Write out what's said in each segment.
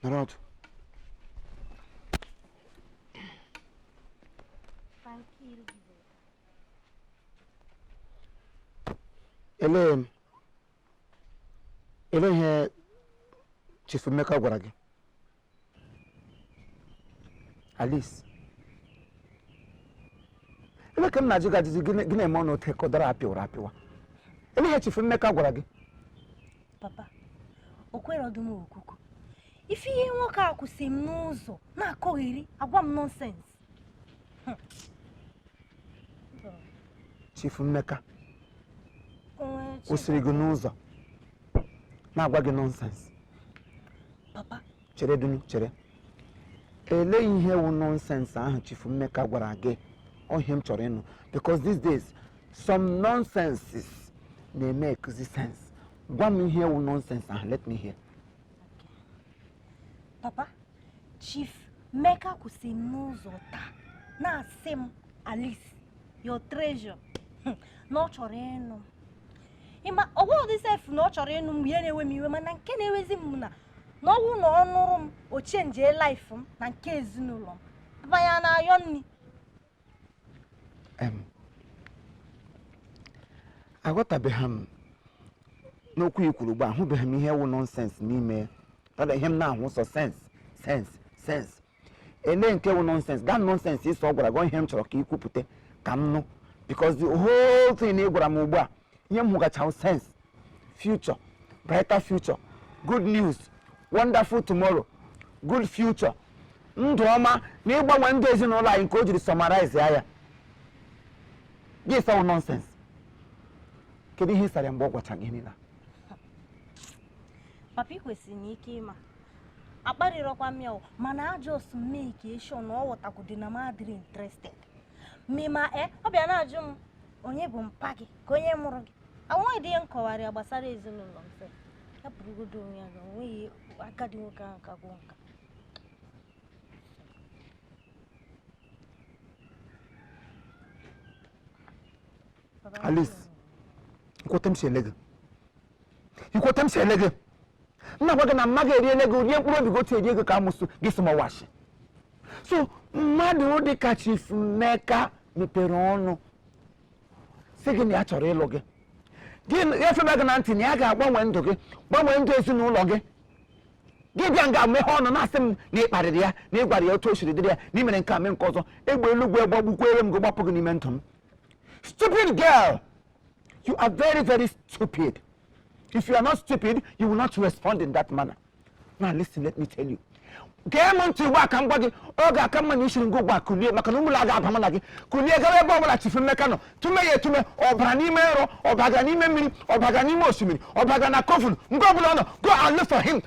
Narado. Ele, ele ihe Chief Emeka gwara gị? Alice ele ka m na-ajụ gị ajụjụ gị na-eme ọnụ otu ka ụdara apịwara apịwa ele ihe Chief Emeka gwara gị papa o kwere dị m okwukwu ife ihe nwoke a kwụsị m n'ụzọ na-akọgheri agwa m nonsense Chief Emeka kwụsịrị gị n'ụzọ na-agwa gị nonsense papa chere dunu chere ele ihe wụ nonsense ahụ Chief Emeka gwara gị ọ ihe m chọrọ ịnụ because these days some nonsenses na-emekezi sense gwa m ihe wụ nonsense ahụ let me hear papa Chief Emeka kwụsị m n'ụzọ taa na-asị m alice your treasure hmm, na ọ chọrọ ịnụ m ịma ọ wụghị dị sef na ọ chọrọ ịnụ m ihe na-ewe m iwe mana nke na-ewezi m na na ọ wụ na ọ nụrụ m ọ chenjie life m na nke ezinụlọ m papa anyị na-ayọ nri aghọtabeghị m n'okwu i kwuru ugbu a ahụbeghị m ihe wụ nonsense n'ime ya rather ihe m na-ahụ sọ sense sense sense elee nke wụ nonsense that nonsense ị sị ọ gwara gị ihe m chọrọ ka ị kwupụta ka m nụ because the whole thing ị gwara m ugbu a ihe m hụgacha sense future brighter future good news wonderful tomorrow good future ndụ ọma na ịgbanwe ndụ ezinụlọ anyị nke o jiri summarize ya ya gị sị ọ wụ nonsense kedu ihe ị sara mgbe ọ gwacha gị niile papa ị kwesịrị inwe ike ịma akparịrọkwa m ya o mana I just make sure na ọ ghọtakwudị na m adịrọ interested mima e eh, ọ bịa na-ajụ m onye bụ mpa gị ka onye mụrụ gị enweghị dị ihe m kọwara ya gbasara ezinụlọ m sị ya burugodo onwe ya na onweghị agadi nwoke ahụ ka gwụ nka Alice, lekwe etu m si ele gị lekwe etu m si ele gị nna gwa gị na mma ga-eri ele gị rie mkpụrụ obi gị otu erie gị ka amụsụ gị si mawashi so mmadụ dị ka Chief Emeka mepere ọnụ sị gị na ya chọrọ ịlụ gị gị efebe gị na ntị na ya ga-agbanwe ndụ gị gbanwee ndụ ezinụlọ gị gị bịa nga meghe ọnụ na-asị m na ị kparịrị ya na ị gwara ya otu o siri dịrị ya na ị mere nke a mee nke ọzọ egbe eluigwe gbagbukwere m gị gbapụ gị n'ime ndụ m Stupid girl! You are very, very stupid. If you are not stupid, you will not respond in that manner. Now listen, let me tell you. gee m ntị ugbu a ka m gwa gị ọ ga-aka mma na i siri nga ugbu a kulie maka na ime ụlọ a agaghị aba mụ na gị kulie gawa ebe ọbụla Chief Emeka nọ tume ya etume ọ bara n'ime nrọ ọ baga n'ime mmiri ọ baga n'ime osimiri ọ baga na coven nga ọbụla ọ nọ go and look for him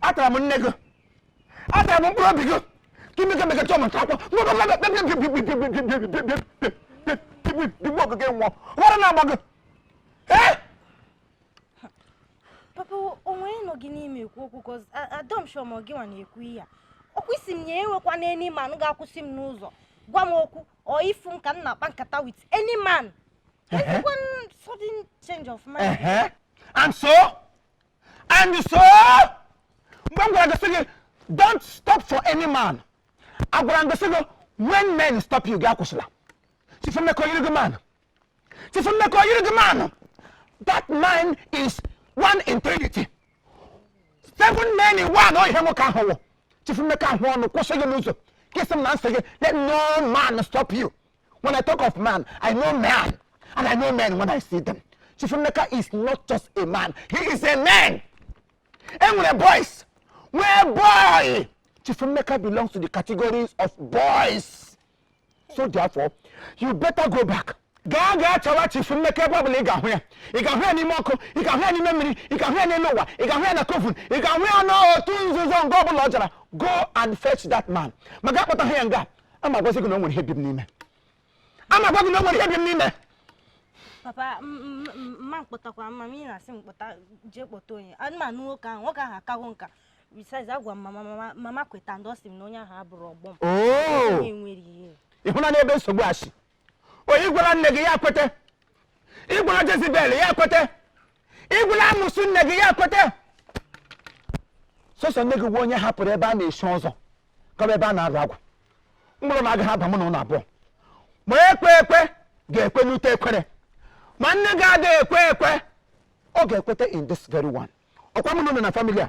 atara m nne gị atara m mkpụrụ obi gị ka imeke meke chọọ maka akwọ digbu okike nwụọ ara na-agba gị papa o nwe ihe nọ gị n'ime ekwu okwu because adịrọ m sure ma gị nwa na-ekwu ihe a ọkwa ị sị m ya enwekwana any man ga-akwụsị m n'ụzọ gwa m okwu or ịfụ m ka m na-akpa nkata with any man Ehe. Why sudden change of mind. Ehe. And so? And so? Mgbe m gwara gị sị gị, don't stop for any man. Agwara m gị sị gị, when men stop you, gị akwụsịla. Chief Emeka o yiri gị man. Chief Emeka o yiri gị man. That man is one in trinity. Seven men in one, ọ ihe nwoke ahụ wụ. Chief Emeka ahụ ọnụ kwụsị gị n'ụzọ. Gị sị m na m sị gị, let no man stop you. When I talk of man, I know man. And I know men when I see them. Chief Emeka is not just a man. He is a man. E nwere boys, nwee boy, Chief Emeka belongs to the categories of boys. So therefore, you better go back. gaa gaa chọwa Chief Emeka ebe ọbụla ị ga-ahụ ya ị ga-ahụ ya n'ime ọkụ ị ga-ahụ ya n'ime mmiri ị ga-ahụ ya n'elu ụwa ị ga-ahụ ya na coven ị ga-ahụ ya n'otu nzuzo nke ọbụla ọ jara go and fetch that man ma gaa kpọta ha ya nga a ma gwazi gị na o nwere ihe bi m n'ime a ma gwa gị na o nwere ihe bi m n'ime papa m ma akpọtakwa mma m ị na-asị m kpọta jee kpọta onye ma nụ nwoke ahụ nwoke ahụ akago nka besides agwa m mama mama kwetadị ọ sị m na onye ahụ abụrọ ọgbọ m oh! enwere ihe ị hụnanụ ebe nsogbu a si oh ị gwara nne gị ya kwete ị gwara Jezebel ya kwete ị gwara amụsụ nne gị ya kwete sọsọ nne gị wụ onye hapụrụ ebe a na-echi ọzọ gaba ebe a na-arụ agwụ ime ụlọ m agaghị aba mụ na unu abụọ ma ekwe ekwe ga-ekwe n'ute ekwere ma nne gị adịghị ekwe ekwe ọ ga-ekweta in this very one ọkwa mụ na unu na family a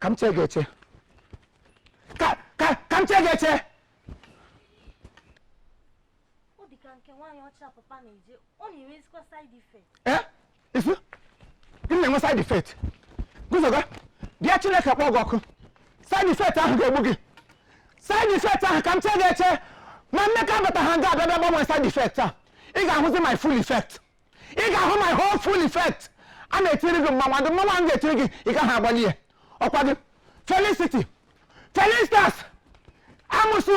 ka m chee gị eche ka ka ka m chee gị eche ọ dị ka nke nwaanyị ọcha papa na-eje ọ na-enwezikwa side effect ee ị sị gịnị na-enwe side effect guzoga bịa chineke kpọọ gị ọkụ side effect ahụ ga-egbu gị side effect ahụ ka m chee gị eche ma emeka bata ha nga a bịa gbanwee side effect a ị ga-ahụzi my full effect ị ga-ahụ my whole full effect a na-etiri gị mmanwụ ndị mmanwụ m ga-etiri gị ị gaghị agbalị ya ọkwa gị felicity felicitas amụsụ